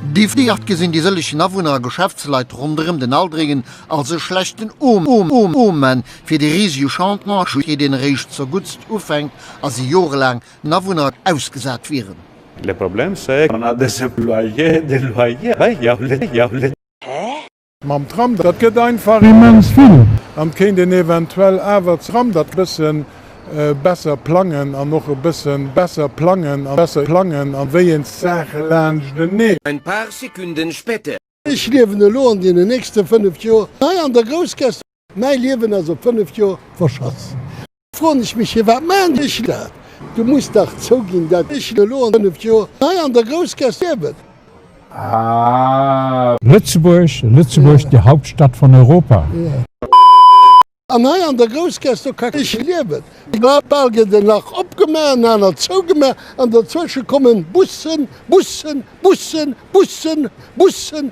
Déi Fliart gesinn déi sëllegen Awunner a Geschäftsleit ronderëm den Aldringen als e schlechten Omen fir de risege Chantier, deen eréischt zerguttst ufänkt a si jorelaang den Awunner ausgesat wieren. Mam Tram, dat gëtt einfach immens vill. An kéint een eventuell awer d'Tram dat bëssen besser plangen an och e bëssen besser plangen an besser plangen a wéi een d'Saache laanschtenee. Ein paar Sekunden später. Ech liewen elo an deenen nächste 5 Joer hei an der Groussgaasst. Mäi Liewen ass op 5 Joer verschass. Froen ech mech, Firwat maan ech dat? Du muss dach zouginn, dat ech elo an 5 Joer hei an der Groussgass liewen. Aah. Lëtzebuerg, Lëtzebuerg, déi Hauptstadt von Europa. An hei an der Groussgass, do ka ech liewen. Bal gëtt en nach opgemaach, en anert zougemaach, an derzwësche kommen Bussen, Bussen, Bussen, Bussen, Bussen,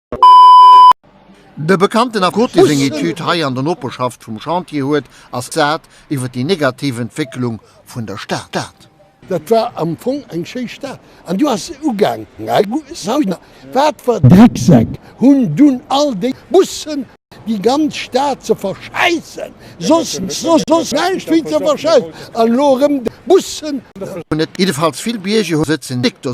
De bekannten Akkord, dee seng Etüd hei an der Noperschaft vum Chantier huet, ass d'Saat iwwer déi negativ Entwécklung vun der Stad. Dat war am Fong eng schéi Stad, an du ass se ugaangen. Wat fer Drecksäck hunn dunn all déi Bussen déi ganz Stad ze verschäissen? Soss näischt wéi ze verschäissen, an elo erëm déi Bussen. Jiddefalls vill Bierger sëtzen déck do.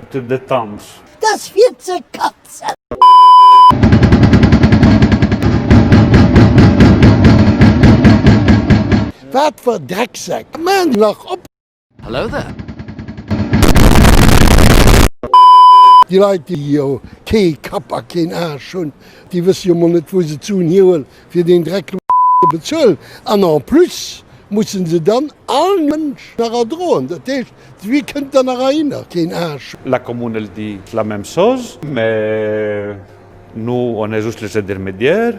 Bitte net danz. Dass fir ze katzen. Wat fir Drecksäck man nach op. Hello there. Déi Leit déi jo kee Kapp a keen Aasch hunn, déi wësse jo mol net wou se ze un hieuen fir deen Dreck lo ze bezuelen an en plus musse se dann all Mënsch nach erdroen. Dat heescht Wie kënnt dann nach ahinner? Keen Aasch! La Commune el dit la même chose, mais nous on est juste les intermédiaires.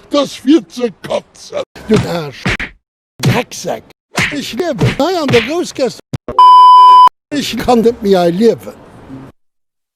Dass fir ze kotzen! Du Aasch! Drecksäck! Ech liewen hei an der Groussgäss! Ech kann net méi hei liewen!